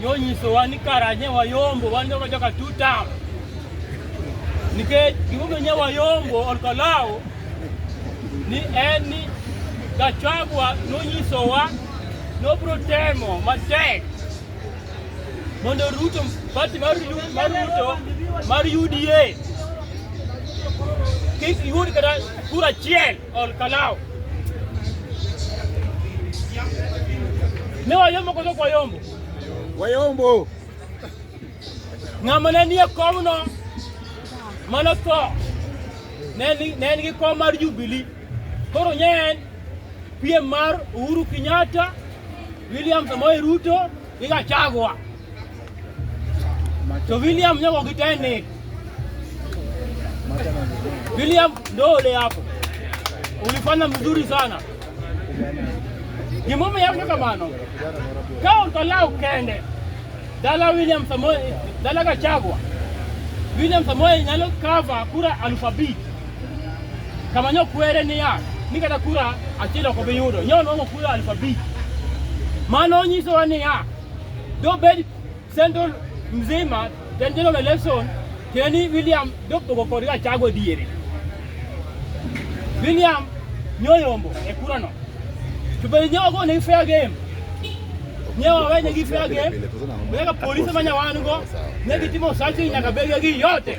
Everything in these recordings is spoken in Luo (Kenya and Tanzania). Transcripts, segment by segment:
Yo nyiso wa ni karanye wayombo wan jogo joka two term. Nikech gimomiyo nye wayombo olkolawo ni en ni Gachagua nonyisowa nobiro temo matek mondo Ruto pati mar Ruto mar UDA kik yud kata kura achiel Ol kalao. Ni wayombo koso kwa yombo. Wayombo. Ng'ama ne nie komno mano tho ne en gi kom mar Jubilee. Koro nye en piem mar Uhuru Kenyatta, William Samoei Ruto Iga chagwa. To William nyogo kiteni. William ndo ule hapo. Ulifanya mzuri sana. Gimomo yako kamano. Kao tola ukende. Dala William Samoei, dala Gachagua. William Samoei nyalo cover kura alphabet. Kama nyo kwere ni ya, ni kata kura achiel ok obi yudo. Nyo nwango kura aluf abich. Mano nyisowa ni ya, dobed Central mzima then general election keni William dopogo kod Gachagua diere. William nyoyombo e kura no. To be nyogo ni fair game. Nyewa wenye gi fair game. Wega polisi manya wango. Negi timo sachi nyaka bege gi yote.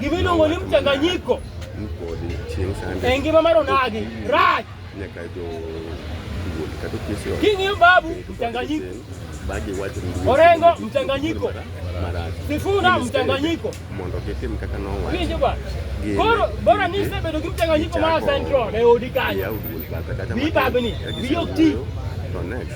Gima iluongo ni mchanganyiko e ngima mar onagi rach. King'iyo babu mchanganyiko, Orengo mchanganyiko, Sifuna mchanganyiko. Winjo bwana, koro bora ni isebedo gi mchanganyiko mar Central e odi kanyo, bibabni biyo ti to next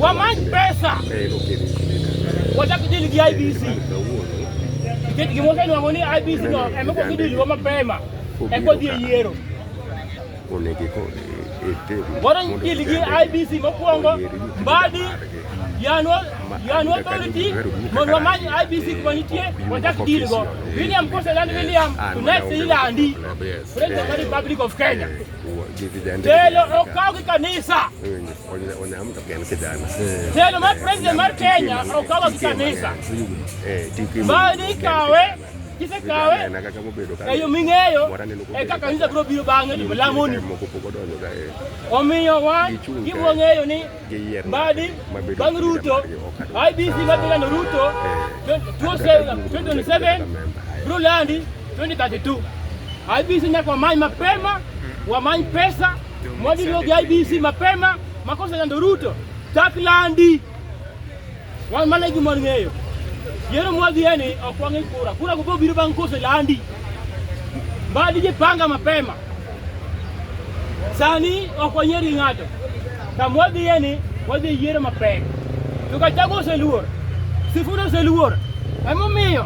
wamany pesa wachak dil gi IBC nikech gima osenwang'o ni IBC no emeko gidilwa mapema eko dhi e yiero waro dil gi IBC mokwongo mbadi yanwa yanwa authority mondo wamany IBC kuma nitie wachak dil go William koseland William to next ilandi President of the Republic of Kenya Telo okaw gi kanisa. Telo mar president mar Kenya okaw gi kanisa. Ma ni kawe kise kawe eyo ming'eyo eka kanisa biro biro bang'e to lamoni. Omiyo wan giwang'eyo ni mbadi bang Ruto IBC mabegano Ruto 2027 Brulandi 2032 IBC nyaka wamany mapema, wamany pesa mwadiliogi IBC mapema, makosa yando Ruto taklandi Wan mana e gima ng'eyo. Yiero mwadhiye ni ok wang'e kura. Kura go biro bang' kose landi. Mbadi jipanga mapema. Sani ok wanyier gi ng'ato. Kama wadhiye ni wadhi yiero mapek. To Gachagua oseluor. Sifuna oseluor. Emomiyo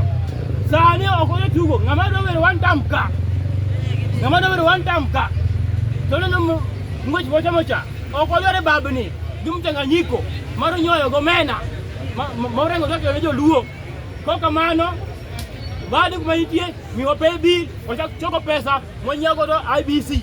sani ok wadhi tugo. Ng'ama dwa wero one time ka. Ng'ama dwa wero one time ka. To neno ng'wech mocha mocha. Ok wadwar e babni gi mchanganyiko mar nyoyo gomena morengo kaka ne joluo. Kok kamano bado kuma nitie miwa pay bill wachak choko pesa mwanyiego do IBC.